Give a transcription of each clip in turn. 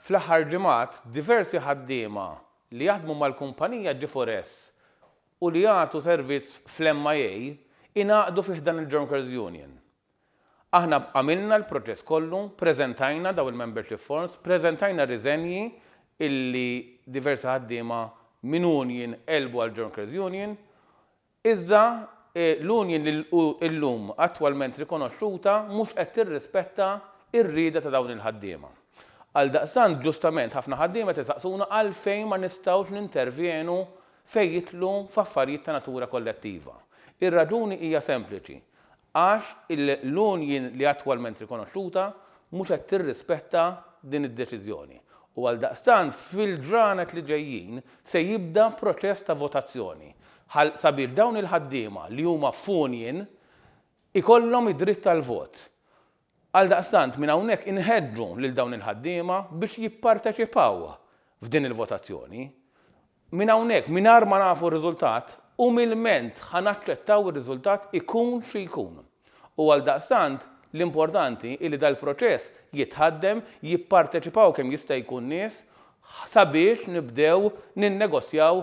Fl-aħħar ġimgħat, diversi ħaddiema li jaħdmu mal-kumpanija G4S u li jagħtu servizz fl-MIA ingħaqdu fi ħdan il-Jonkers Union. Aħna għamilna l-proċess kollu, preżentajna dawn il-membership forms, preżentajna r-riżenji illi diversi ħaddiema minn union qelbu għall-Jonkers Union, Iżda, l-union li hu llum attwalment rikonoxxuta mhux qed tirrispetta r-rieda ta' dawn il-ħaddiema. Għaldaqstant, ġustament ħafna ħaddiema qed isaqsuna għalfejn ma nistgħux nintervjenu fejn jidħlu f'affarijiet ta' natura kollettiva. Ir-raġuni hija sempliċi, għax l-union li attwalment rikonoxxuta mhux qed tirrispetta din id-deċiżjoni u għaldaqstant fil-ġranet li ġejjin se jibda proċess ta' votazzjoni ħal sabiex dawn il-ħaddiema li huma f'union ikollhom id-dritt għall-vot. Għaldaqstant, minn hawnhekk inħeġġu lil dawn il-ħaddiema biex jipparteċipaw f'din il-votazzjoni. Minn hawnhekk, mingħajr ma nafu r-riżultat, umilment ħa naċċettaw ir-riżultat ikun xi jkun. U għaldaqstant, l-importanti hi li dal-proċess jitħaddem, jipparteċipaw kemm jista' jkun nies sabiex nibdew ninnegozjaw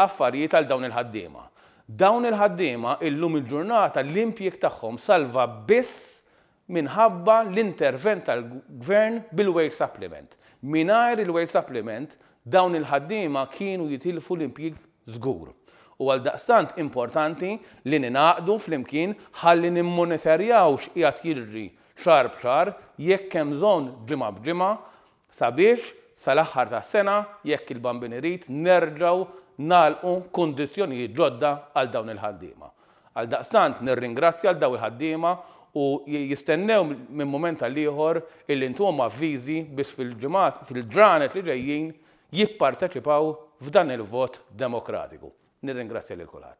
affarijiet għal dawn il-ħaddiema. Dawn il-ħaddiema illum il-ġurnata l-impjieg tagħhom salva biss minħabba l-intervent tal-Gvern bil-wage supplement. Mingħajr il-wage supplement dawn il-ħaddiema kienu jitilfu l-impjieg żgur. U għaldaqstant importanti li ningħaqdu flimkien ħalli nimmonitorjaw x'qiegħed jiġri xahar b'xahar, jekk hemm bżonn ġimgħa b'ġimgħa, sabiex sal-aħħar tas-sena, jekk il-Bambin irid, nerġgħu nagħlqu kundizzjonijiet ġodda għal dawn il-ħaddiema. Għaldaqstant nirringrazzja lil dawn il-ħaddiema u jistennew minn mument għal ieħor illi ntuhom avviżi biex fil-ġimgħat, fil-ġranet li ġejjin jipparteċipaw f'dan il-vot demokratiku. Nirringrazzja lil kulħadd.